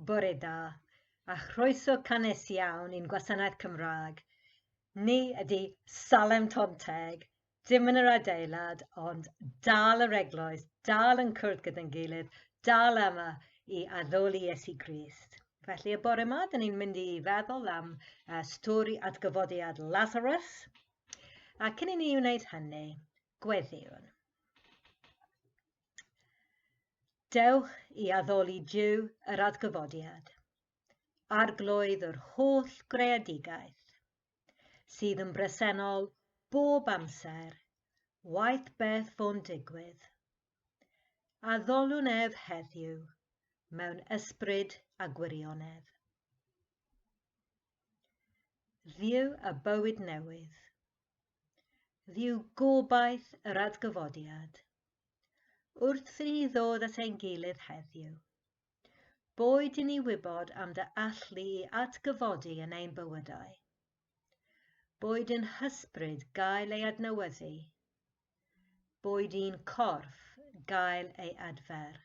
Bore da, a chroeso cannes iawn i'n gwasanaeth Cymraeg. Ni ydy Salem Tonteg, dim yn yr adeilad, ond dal yr eglwys, dal yn cwrdd gyda'n gilydd, dal yma i addoli Iesu Grist. Felly y bore yma, dyn ni'n mynd i feddwl am uh, stori atgyfodiad Lazarus. A cyn i ni wneud hynny, Gweddïwn. Dewch i addoli Duw yr adgyfodiad, arglwydd yr holl greadigaeth, sydd yn bresennol bob amser, waeth beth fo'n digwydd. Addolwn ef heddiw mewn ysbryd a gwirionedd. Dduw a bywyd newydd, Ddiw gobaith yr adgyfodiad. Wrth i ni ddod at ein gilydd heddiw, boed i ni wybod am dy allu i adgyfodi yn ein bywydau, boed yn hysbryd gael ei adnewyddu, boed i'n corff gael ei adfer.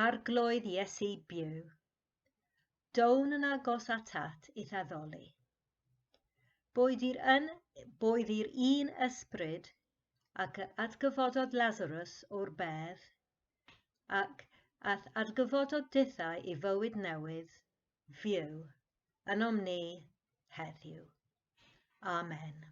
Arglwydd Iesu byw, Down yn agos atat i'th addoli. Boed i'r yn, boed i'r un ysbryd ac atgyfododd Lazarus o'r bedd, ac ath atgyfododd dithau i fywyd newydd, fyw, ynom ni, heddiw. Amen.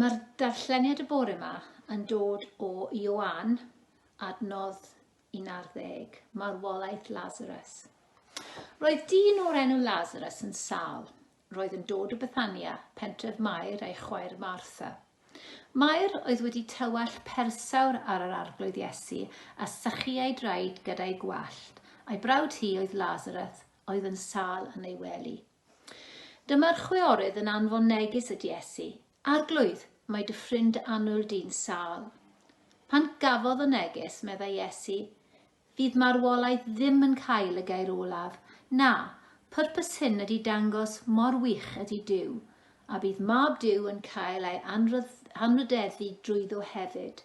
Mae'r darlleniad y bore yma yn dod o Ioan, adnodd 11, marwolaeth Lazarus. Roedd dyn o'r enw Lazarus yn sal. Roedd yn dod o Bethania, pentref Mair a'i chwaer Martha. Mair oedd wedi tywallt persawr ar yr arglwydd Iesu a sychu ei draed gyda'i gwallt, a'i brawd hi oedd Lazarus oedd yn sal yn ei wely. Dyma'r chwiorydd yn anfon neges at Iesu, Arglwydd, mae dy ffrind annwyl di'n sâl. Pan gafodd y neges, meddai Iesu, Fydd marwolaeth ddim yn cael y gair olaf. Na, pwrpas hyn ydy dangos mor wych ydy Duw, a bydd Mab Duw yn cael ei anrhydeddu drwyddo hefyd.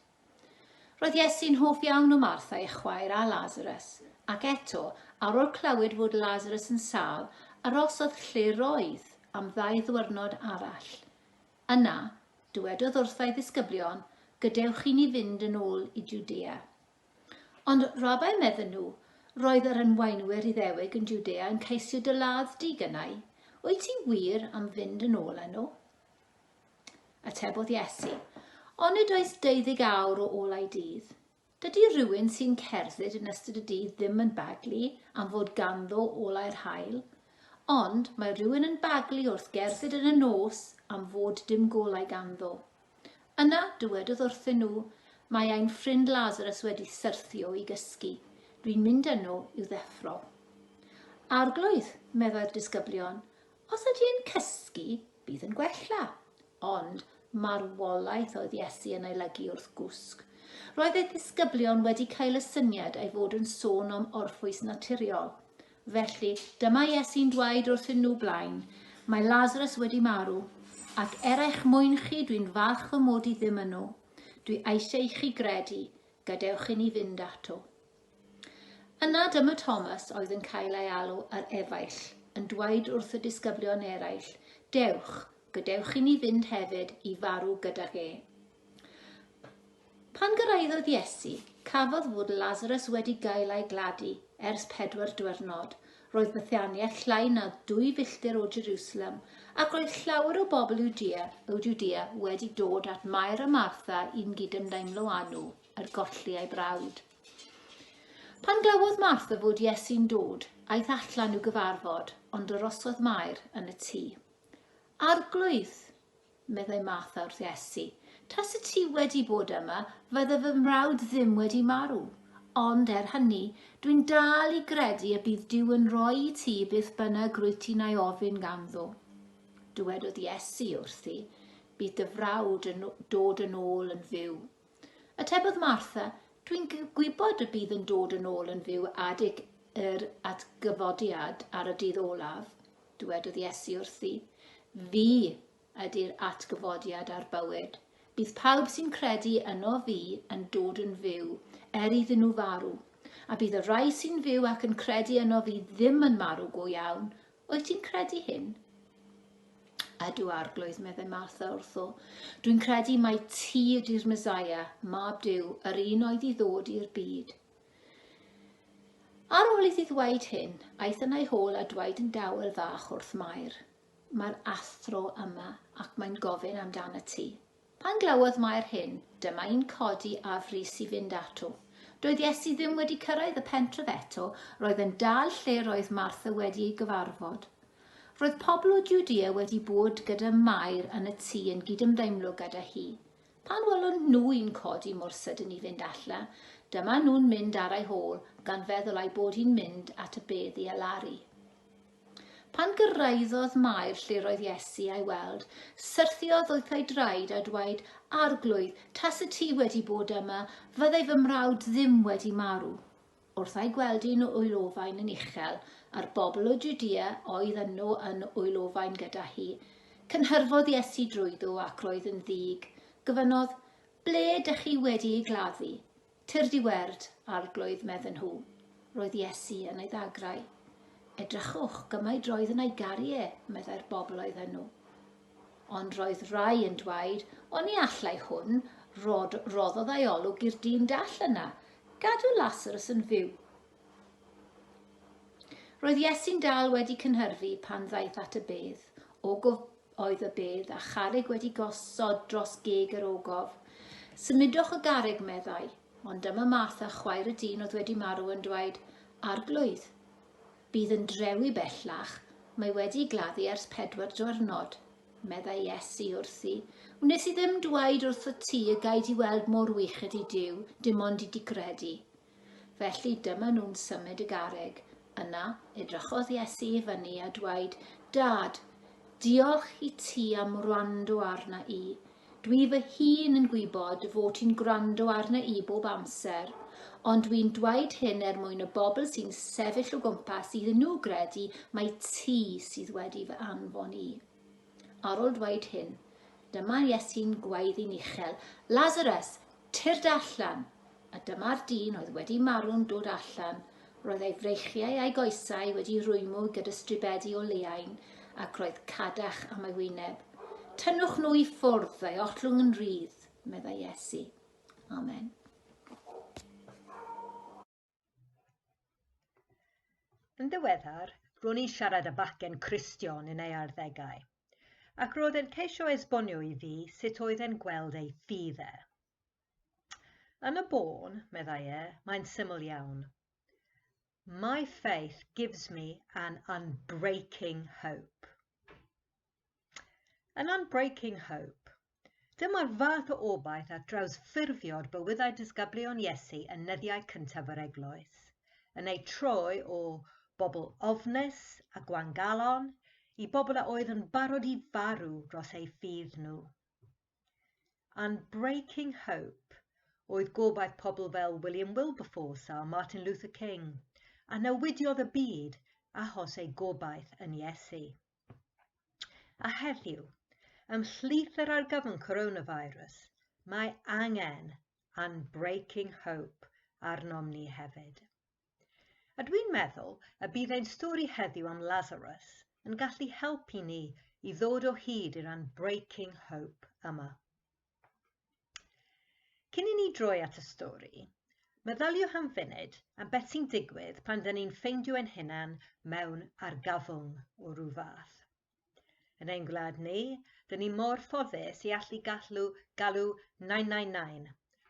Roedd Iesu'n hoff iawn o Martha ei chwaer a Lasarus, ac eto, awr o'r clywed fod Lasarus yn sâl, arosodd lle roedd am ddau ddiwrnod arall. Yna, dywedodd wrtha'i ddisgyblion, Gadewch chi ni fynd yn ôl i Jwdea. Ond, Rabai, medden nhw, roedd yr enwaenwyr Iddewig yn Jwdea yn ceisio dy ladd di gynnau. Wyt ti wir am fynd yn ôl â nhw? Atebodd Iesu, Onid oes deuddyg awr o olau dydd? Dydy rhywun sy'n cerdded yn ystod y dydd ddim yn baglu am fod ganddo olau'r hael, ond mae rhywun yn baglu wrth gerdded yn y nos am fod dim golau ganddo. Yna dywedodd wrthyn nhw, Mae ein ffrind Lazarus wedi syrthio i gysgu. Dwi'n mynd yno i'w ddeffro. Arglwydd, meddai'r disgyblion, Os ydy yn cysgu, bydd yn gwella. Ond marwolaeth oedd Iesu yn ei lygu wrth gwsg. Roedd ei ddisgyblion wedi cael y syniad ei fod yn sôn am orffwys naturiol. Felly, dyma Iesu'n dweud wrthyn nhw blaen, Mae Lazarus wedi marw, ac er eich mwyn chi dwi'n falch fy mod i ddim yno. Dwi eisiau i chi gredu, gadewch i ni fynd ato. Yna dyma Thomas oedd yn cael ei alw yr efaill, yn dweud wrth y disgyblion eraill, Dewch, gadewch i ni fynd hefyd i farw gydag e. Pan gyrraeddodd Iesu, cafodd fod Lazarus wedi gael ei gladu ers pedwar diwrnod. Roedd Bethania llai na dwy filltir o Jerusalem, ac roedd llawer o bobl Judea, o Judea wedi dod at Mair a Martha i'n gydymdeimlo â nhw. er golli ei brawd. Pan glywodd Martha fod Iesu'n dod, aeth allan i'w gyfarfod, ond yr osodd Mair yn y tŷ. Arglwydd, meddai Martha wrth Iesu, tas y ti wedi bod yma, fydde fy mrawd ddim wedi marw. Ond er hynny, dwi'n dal i gredu y bydd Dyw yn rhoi i ti beth bynnag rwy ti'n ei ofyn ganddo. Dywedodd Iesu wrthi, bydd dy frawd yn dod yn ôl yn fyw. Atebodd Martha, Dwi'n gwybod y bydd yn dod yn ôl yn fyw adig yr atgyfodiad ar y dydd olaf. Dywedodd Iesu wrthi, Fi ydy'r atgyfodiad a'r bywyd. Bydd pawb sy'n credu yno fi yn dod yn fyw, er iddyn nhw farw. A bydd y rhai sy'n fyw ac yn credu yno fi ddim yn marw go iawn, Wyt ti'n credu hyn? Ydw, arglwydd, meddai Martha wrtho. Dwi'n credu mai ti ydy'r Mesaia, mab Dyw, yr un oedd i ddod i'r byd. Ar ôl iddi ddweud hyn, aeth yna ei hôl a dweud yn dawel fach wrth Mair, Mae'r athro yma ac mae'n gofyn amdana ti. Pan glywodd Mair hyn, dyma un codi a frys i fynd ato. Doedd Iesu ddim wedi cyrraedd y pentref eto, roedd yn dal lle roedd Martha wedi ei gyfarfod. Roedd pobl o Judea wedi bod gyda Mair yn y tŷ yn gydymdeimlo gyda hi. Pan welon nhw un codi mor sydyn i fynd alla, dyma nhw'n mynd ar ei hôl, gan feddwl ei bod hi'n mynd at y bedd i alaru. Pan gyrraeddodd Mair lle roedd Iesu a'i weld, syrthiodd wrth ei draed a dweud, Arglwydd, tase ti wedi bod yma, fyddai fy mrawd ddim wedi marw. Wrth a'i gweld un o'i lofain yn uchel, a'r bobl o Judea oedd yno yn o'i lofain gyda hi, cynhyrfodd Iesu drwyddo ac roedd yn ddig. Gofynnodd, Ble dych chi wedi ei gladdu? Tyrd i werd, Arglwydd, medden nhw. Roedd Iesu yn ei ddagrau. Edrychwch, gymaint roedd yna i garu e, meddai'r bobl oedd yno. Ond roedd rai yn dweud, o ni allai hwn, rod, roddodd ei olwg i'r dyn dall yna, gadw Lasarus yn fyw. Roedd Iesu'n dal wedi cynhyrfu pan ddaeth at y bedd, o oedd y bedd a charreg wedi gosod dros geg yr ogof. Symudwch y garreg, meddai, ond dyma Martha, chwaer y dyn oedd wedi marw, yn dweud, Arglwydd, bydd yn drewi bellach, mae wedi gladdu ers pedwar diwrnod. Meddai Iesu wrthi, Wnes i ddim dweud wrth y ti y gaid i weld mor wych ydi Dyw, dim ond i di gredu. Felly dyma nhw'n symud y garreg. Yna, edrychodd Iesu i fyny a dweud, Dad, diolch i ti am wrando arna i. Dwi fy hun yn gwybod fod ti'n gwrando arna i bob amser, ond dwi'n dweud hyn er mwyn y bobl sy'n sefyll o gwmpas iddyn nhw gredu mai ti sydd wedi fy anfon i. Ar ol dweud hyn, dyma Iesu'n gwaedd i'n uchel, Lazarus, tyrd allan! A dyma'r dyn oedd wedi marw'n dod allan, roedd ei freichiau a'i goesau wedi rwymw gyda stribedi o leaen, ac roedd cadach am ei wyneb. Tynnwch nhw i ffwrdd, fe ottlwng yn rydd, meddai Iesu. Amen. Yn ddiweddar, ro'n i'n siarad â bachgen Cristion yn ei arddegau, ac roedd e'n ceisio esbonio i fi sut oedd e'n gweld ei ffydd e. Yn y bôn, meddai e, mae'n syml iawn. My faith gives me an unbreaking hope. Yn Unbreaking Hope, dyma'r fath o obaith at drawsffurfio'r bywydau disgyblion Iesu yn nyddiau cyntaf yr Eglwys, yn eu troi o bobl ofnus a gwangalon i bobl a oedd yn barod i farw dros eu ffydd nhw. Unbreaking Hope oedd gobaith pobl fel William Wilberforce a Martin Luther King, a newidiodd y byd achos eu gobaith yn Iesu. A heddiw, ymhlith yr argyfwng coronavirus, mae angen unbreaking hope arnom ni hefyd. A dwi'n meddwl y bydd ein stori heddiw am Lazarus yn gallu helpu ni i ddod o hyd i'r unbreaking hope yma. Cyn i ni droi at y stori, meddyliwch am funud am beth sy'n digwydd pan dyn ni'n ffeindio ein hunan mewn argafwng o rhyw fath. Yn ein gwlad ni, dyn ni mor ffodus i allu gallu galw 999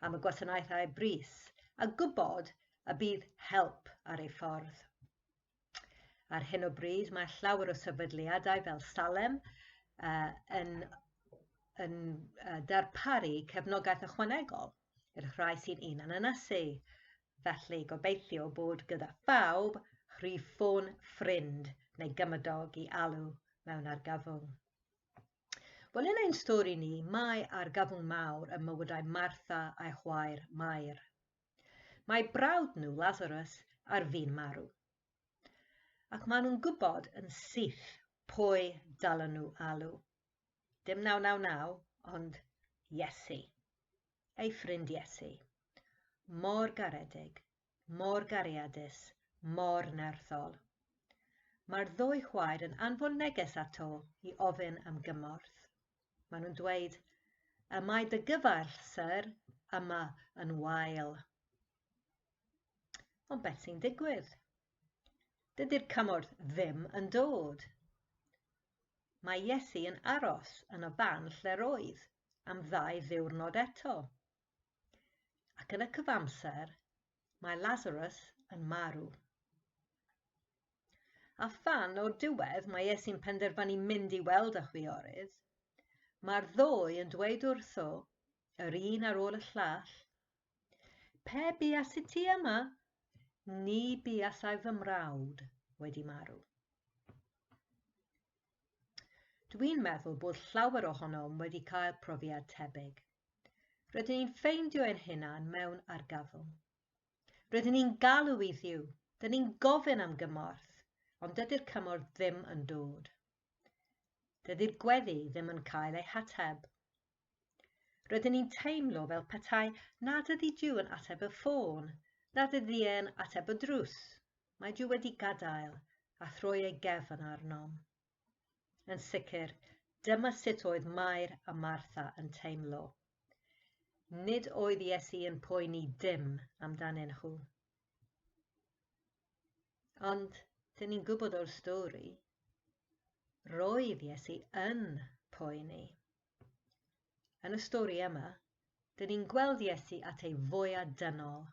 am y gwasanaethau brys a gwybod y bydd help ar ei ffordd. Ar hyn o bryd mae llawer o sefydliadau fel Salem uh, yn, yn uh, darparu cefnogaeth ychwanegol i'r rhai sy'n un yn ynysu. Felly gobeithio bod gyda phawb rhif ffôn ffrind neu gymydog i alw mewn argyfwng. Wel, yn ein stori ni, mae argyfwng mawr ym mywydau Martha a'i chwaer Mair. Mae brawd nhw, Lazarus, ar fin marw. Ac maen nhw'n gwybod yn syth pwy dalen nhw alw. Dim 999, ond Iesu. Ei ffrind Iesu. Mor garedig, mor gariadus, mor nerthol. Mae'r ddwy chwaer yn anfon neges ato i ofyn am gymorth. Maen nhw'n dweud, y mae dy gyfaill, sir, yma yn wael. Ond beth sy'n digwydd? Dydy'r cymorth ddim yn dod. Mae Iesu yn aros yn y fan lle'r oedd am ddau ddiwrnod eto. Ac yn y cyfamser, mae Lazarus yn marw. A phan o'r diwedd mae e sy'n penderfynu mynd i weld y chwiorydd, mae'r ddwy yn dweud wrtho, yr un ar ôl y llall, Pe buas i ti yma, ni buasai fy mrawd wedi marw. Dwi'n meddwl bod llawer ohonom wedi cael profiad tebyg. Rydyn ni'n ffeindio ein hunan mewn argyfwng. Rydyn ni'n galw i Dduw, dyn ni'n gofyn am gymorth, ond dydy'r cymorth ddim yn dod. Dydy'r gweddi ddim yn cael ei hateb. Rydyn ni'n teimlo fel petai nad ydy Duw yn ateb y ffôn, nad ydy e'n ateb y drws. Mae Duw wedi gadael a throi ei gefn arnom. Yn sicr, dyma sut oedd Mair a Martha yn teimlo. Nid oedd Iesu yn poeni dim amdanyn nhw. Ond, dyn ni'n gwybod o'r stori, roedd Iesu yn poeni. Yn y stori yma, dyn ni'n gweld Iesu at ei fwyaf dynol.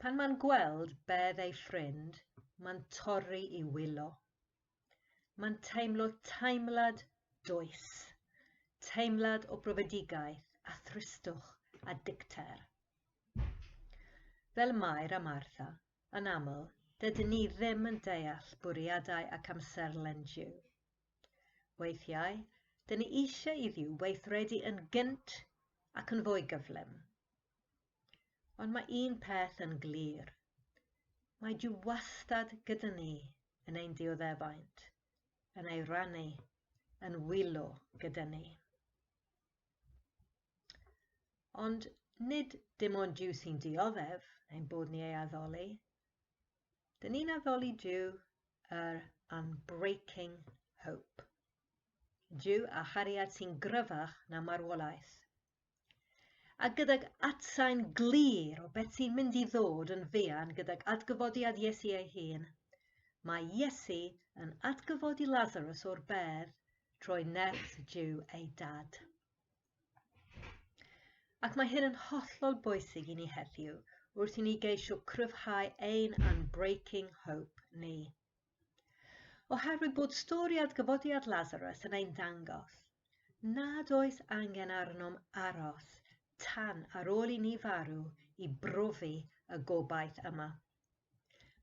Pan mae'n gweld bedd ei ffrind, mae'n torri i wylo. Mae'n teimlo teimlad does, teimlad o brofedigaeth a thristwch a dicter. Fel Mair a Martha, yn aml, dydyn ni ddim yn deall bwriadau ac amserlen Duw. Weithiau, dyn ni eisiau i Dduw weithredu yn gynt ac yn fwy gyflym. Ond mae un peth yn glir. Mae Duw wastad gyda ni yn ein dioddefaint, yn ei rannu, yn wylo gyda ni. Ond nid dim ond Duw sy'n dioddef ein bod ni ei addoli. Dyn ni'n addoli Duw yr unbreaking hope. Duw a chariad sy'n gryfach na marwolaeth, A gydag atsain glir o beth sy'n mynd i ddod yn fuan gydag adgyfodiad Iesu ei hun, mae Iesu yn atgyfodi Lazarus o'r bedd trwy nerth Duw ei dad. Ac mae hyn yn hollol bwysig i ni heddiw wrth i ni geisio cryfhau ein unbreaking hope ni. Oherwydd bod stori adgyfodiad Lazarus yn ein dangos nad oes angen arnom aros tan ar ôl i ni farw i brofi y gobaith yma.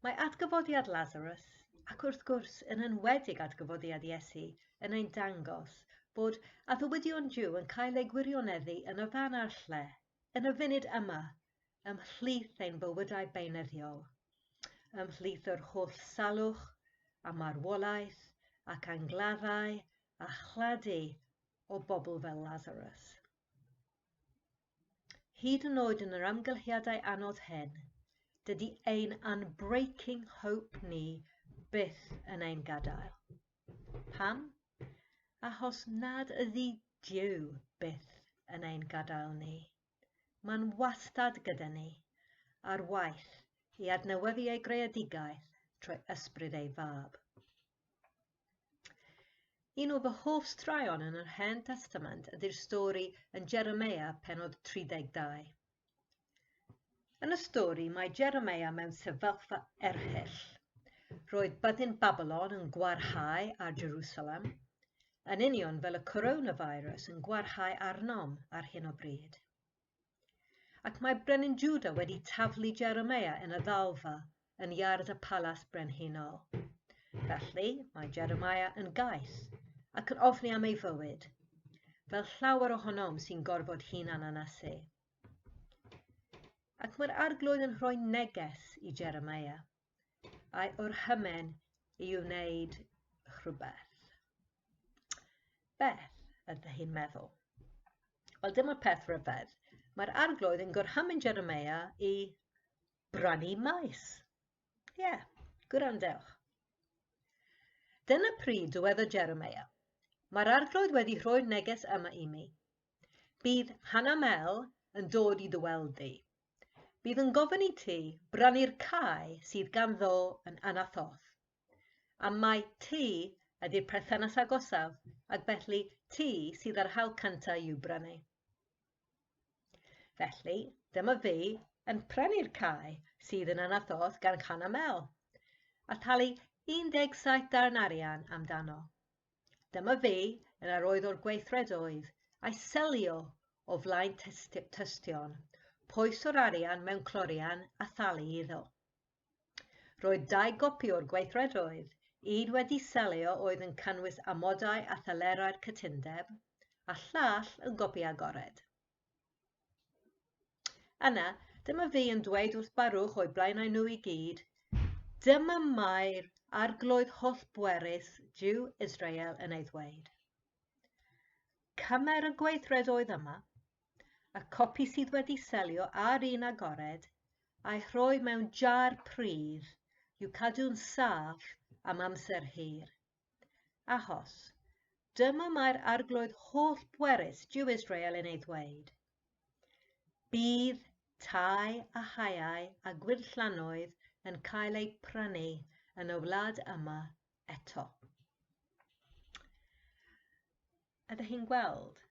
Mae adgyfodiad Lazarus, ac wrth gwrs yn enwedig adgyfodiad Iesu, yn ein dangos bod addewidion Dyw yn cael eu gwirioneddu yn y fan a'r lle, yn y funud yma ymhlith ein bywydau beunyddiol, ymhlith yr holl salwch a marwolaeth ac angladdau a chladu o bobl fel Lazarus. Hyd yn oed yn yr amgylchiadau anodd hyn, dydy ein unbreaking hope ni byth yn ein gadael. Pam? Achos nad ydy Dyw byth yn ein gadael ni. Mae'n wastad gyda ni, ar waith i adnewyddu ei greadigaeth trwy ysbryd ei fab. Un o fy hoff straeon yn yr Hen Testament ydy'r stori yn Jeremia penod 32. Yn y stori, mae Jeremia mewn sefyllfa erchyll. Roedd byddin Babilon yn gwarhau ar Jerusalem, yn union fel y coronavirus yn gwarhau arnom ar hyn o bryd. Ac mae brenin Juda wedi taflu Jeremia yn y ddalfa yn iard y palas brenhinol. Felly, mae Jeremia yn gais ac yn ofni am ei fywyd, fel llawer ohonom sy'n gorfod hunan anasu. Ac mae'r arglwydd yn rhoi neges i Jeremia, a'i orhymen i wneud rhywbeth. Beth ydych chi'n meddwl? Wel, dyma'r peth rhyfedd. Mae'r arglwydd yn gorhymen Jeremia i brynu maes. Ie, yeah, gwrandewch. Dyna pryd dywedodd Jeremia, Mae'r arglwydd wedi rhoi'r neges yma i mi. Bydd Hannah Mel yn dod i dy weld di. Bydd yn gofyn i ti brynu'r cae sydd ganddo yn Anathoth. A mae ti ydy'r perthynas agosaf ac felly ti sydd â'r hawl cyntaf i'w brynu. Felly, dyma fi yn prynu'r cae sydd yn Anathoth gan Hannah Mel a thalu 17 darn arian amdano. Dyma fi yn yr oedd o'r gweithred oedd, a'i selio o flaen tystion, poes o'r arian mewn clorian a thalu iddo. Roedd dau gopi o'r gweithred oedd, un wedi selio oedd yn canwys amodau a thalerau'r cytundeb, a llall yn gopi agored. Yna, dyma fi yn dweud wrth Barwch o'i blaenau nhw i gyd, dyma mae'r arglwydd holl bwerus Jew Israel yn ei ddweud. Cymer y gweithred oedd yma, y copi sydd wedi selio ar un agored, a'i rhoi mewn jar pridd i'w cadw'n saff am amser hir. Achos, dyma mae'r arglwydd holl bwerus Jew Israel yn ei ddweud. Bydd tai a haeau a gwyrllannoedd yn cael eu prynu yn y wlad yma eto. Ydych chi'n gweld?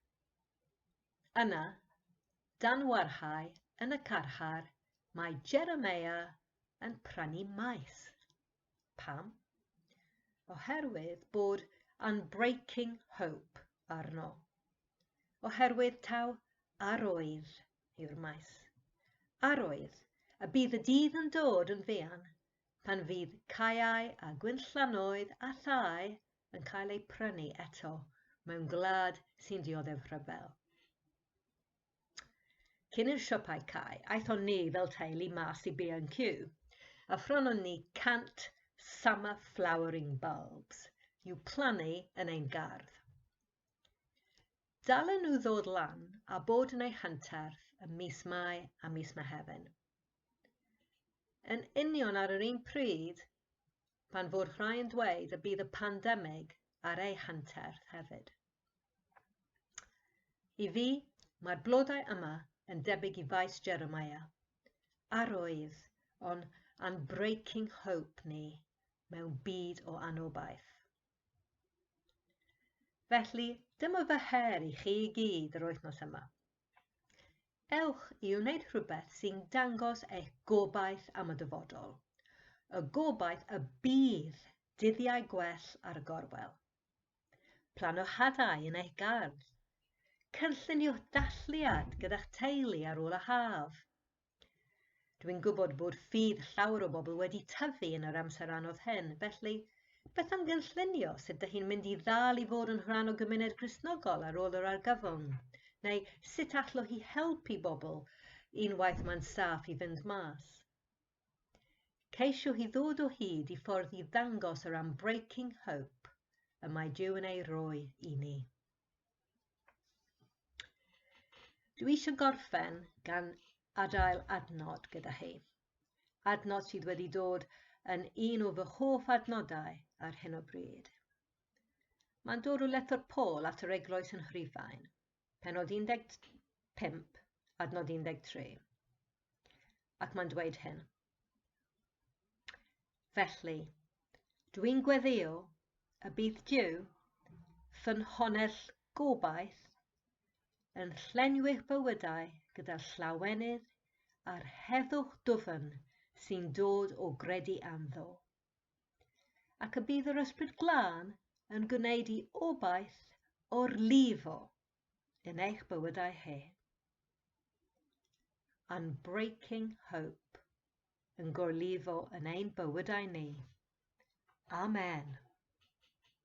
Yna, dan warhau yn y carchar, mae Jeremiah yn prynu maes. Pam? Oherwydd bod unbreaking hope arno. Oherwydd taw arwydd yw'r maes. Arwydd y bydd y dydd yn dod yn fuan pan fydd caeau a gwynllanoedd a thai yn cael eu prynu eto mewn gwlad sy'n dioddef rhyfel. Cyn i'r siopau cau, aethon ni fel teulu mas i B&Q a phrynon ni 100 summer flowering bulbs i'w plannu yn ein gardd. Dalen nhw ddod lan a bod yn eu hanterth ym mis Mai a mis Mehefin. Yn union ar yr un pryd pan fod rhai yn dweud y bydd y pandemig ar eu hanterth hefyd. I fi, mae'r blodau yma yn debyg i faes Jeremiah, a'r oedd o'n unbreaking hope ni mewn byd o anobaith. Felly, dyma fy her i chi i gyd yr wythnos yma. Ewch i wneud rhywbeth sy'n dangos eich gobaith am y dyfodol, y gobaith y bydd dyddiau gwell ar y gorwel. Plano hadau yn eich gardd. Cynlluniwch dathliad gyda'ch teulu ar ôl y haf. Dwi'n gwybod bod ffydd llawer o bobl wedi tyfu yn yr amser anodd hyn, felly beth am gynllunio sut dych chi'n mynd i ddal i fod yn rhan o gymuned Gristnogol ar ôl yr argyfwng? Neu sut allwch chi helpu bobl unwaith mae'n saff i fynd mas? Ceisio hi ddod o hyd i ffordd i ddangos yr unbreaking hope y mae Duw yn ei roi i ni. Dwi eisiau gorffen gan adael adnod gyda hi. Adnod sydd wedi dod yn un o fy hoff adnodau ar hyn o bryd. Mae'n dod o lethr Paul at yr eglwys yn Rhufain, penod 15, adnod 13. Ac mae'n dweud hyn. Felly, dwi'n gweddio y bydd Dyw, fy nhonell gobaith, yn llenwi'ch bywydau gyda llawenydd a'r heddwch dwfn sy'n dod o gredu anddo. Ac y bydd yr Ysbryd Glân yn gwneud i obaith o'r lifo yn eich bywydau he. Unbreaking Hope yn gorlifo yn ein bywydau ni. Amen.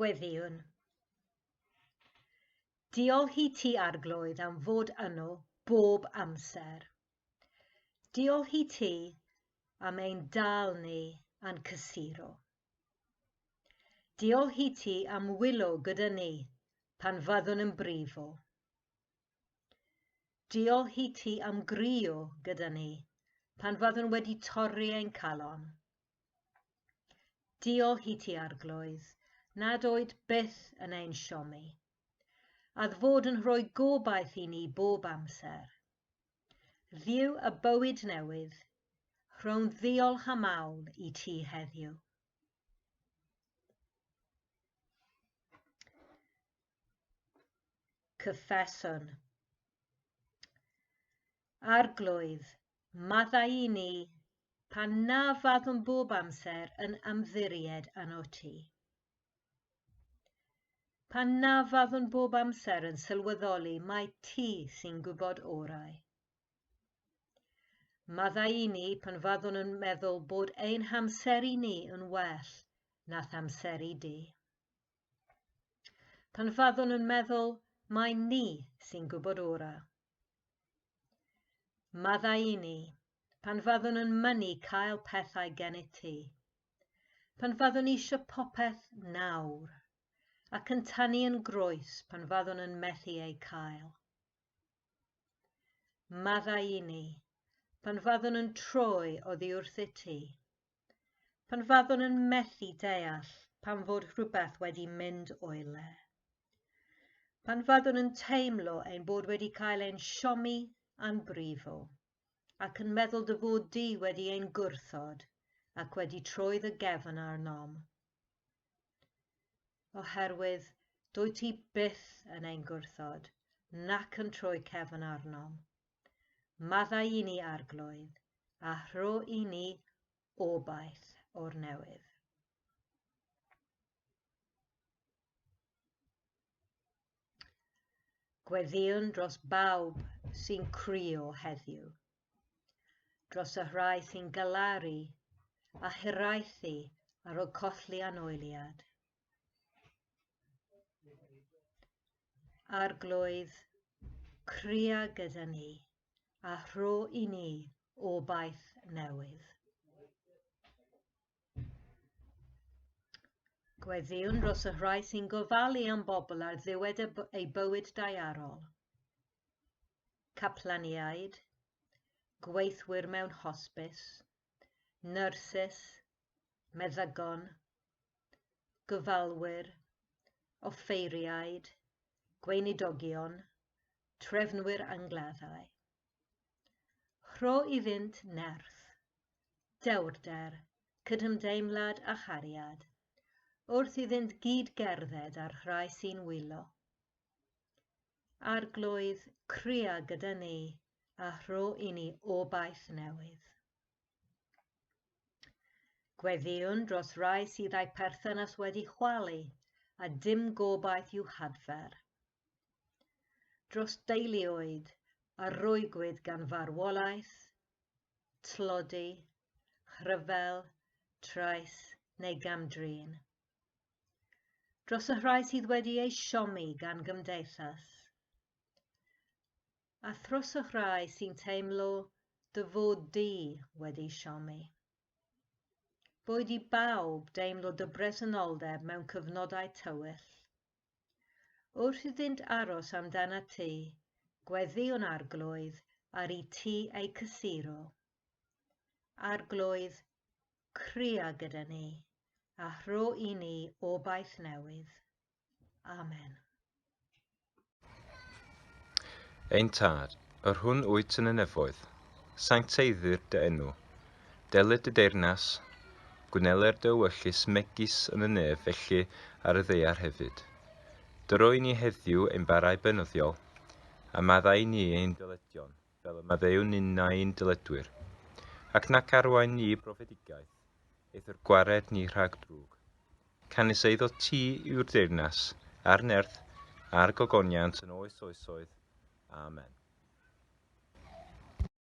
Gweddïwn. Diolch i ti, Arglwydd, am fod yno bob amser. Diolch i ti am ein dal ni a'n cysuro. Diolch i ti am wylo gyda ni pan fyddwn yn brifo. Diolch i ti am grio gyda ni pan fyddwn wedi torri ein calon. Diolch i ti arglwydd nad oed byth yn ein siomi, a fod yn rhoi gobaith i ni bob amser. Dduw y bywyd newydd, rhow'n ddiolch am awl i ti heddiw. Cyffeswn. Arglwydd, maddau i ni pan na fyddwn bob amser yn ymddiried yn o ti. Pan na fyddwn bob amser yn sylweddoli mai ti sy'n gwybod orau. Maddau i ni pan fyddwn yn meddwl bod ein hamseru ni yn well nath amseru di. Pan fyddwn yn meddwl mai ni sy'n gwybod orau. Maddau i ni pan fyddwn yn mynnu cael pethau gennyt ti. Pan faddwn eisiau popeth nawr, ac yn tanu yn groes pan faddwn yn methu eu cael. Maddau i ni, pan faddwn yn troi oddi wrthyt ti. Pan faddwn yn methu deall pan fod rhywbeth wedi mynd o'i le. Pan faddwn yn teimlo ein bod wedi cael ein siomi a'n brifo. ac yn meddwl dy fod di wedi ein gwrthod ac wedi troi dy gefn arnom. Oherwydd dwy ti byth yn ein gwrthod, nac yn troi cefn arnom. Maddau i ni arglwydd, a rho i ni obaith o'r newydd. Gweddïwn dros bawb sy'n crio heddiw, dros y rhai sy'n galaru a hiraethu ar ôl colli anoeliad. Arglwydd, cria gyda ni a rho i ni obaith newydd. Gweddïwn dros y rhai sy'n gofalu am bobl ar ddiwedd ei bywyd daearol. Caplaniaid, gweithwyr mewn hosbis, nyrsys, meddygon, gyfalwyr, offeiriaid, gweinidogion, trefnwyr angladdau. Rho iddynt nerth, dewrder, cydymdeimlad a chariad, wrth iddynt gyd gerdded â'r rhai sy'n wylo. Arglwydd, cria gyda ni, a rho i ni obaith newydd. Gweddïwn dros rai sydd â'i perthynas wedi chwalu a dim gobaith i'w hadfer. Dros deuluoedd a rwygwyd gan farwolaeth, tlodi, rhyfel, trais neu gam-drin. Dros y rhai sydd wedi eu siomi gan gymdeithas. A thros y rhai sy'n teimlo dy fod di wedi siomi. Boed i bawb deimlo dy bresenoldeb mewn cyfnodau tywyll, Wrth iddynt aros amdanat ti, gweddi o'n arglwydd, ar i ti eu cysuro. Arglwydd, cria gyda ni, a rho i ni obaith newydd. Amen. Ein Tad, yr hwn wyt yn y nefoedd, sancteiddir dy enw, Delid dy deyrnas, gwnelai'r dy ewyllys megis yn y nef felly ar y ddaear hefyd. Dyro i ni heddiw ein barau beunyddiol, a maddau i ni ein dyledion, fel y maddeuwn ninnau i'n dyledwyr. Ac nac arwain ni i brofedigaeth, eithr gwared ni rhag drwg. Canys eiddo ti yw'r deyrnas, a'r nerth, a'r gogoniant yn oes oesoedd. Amen.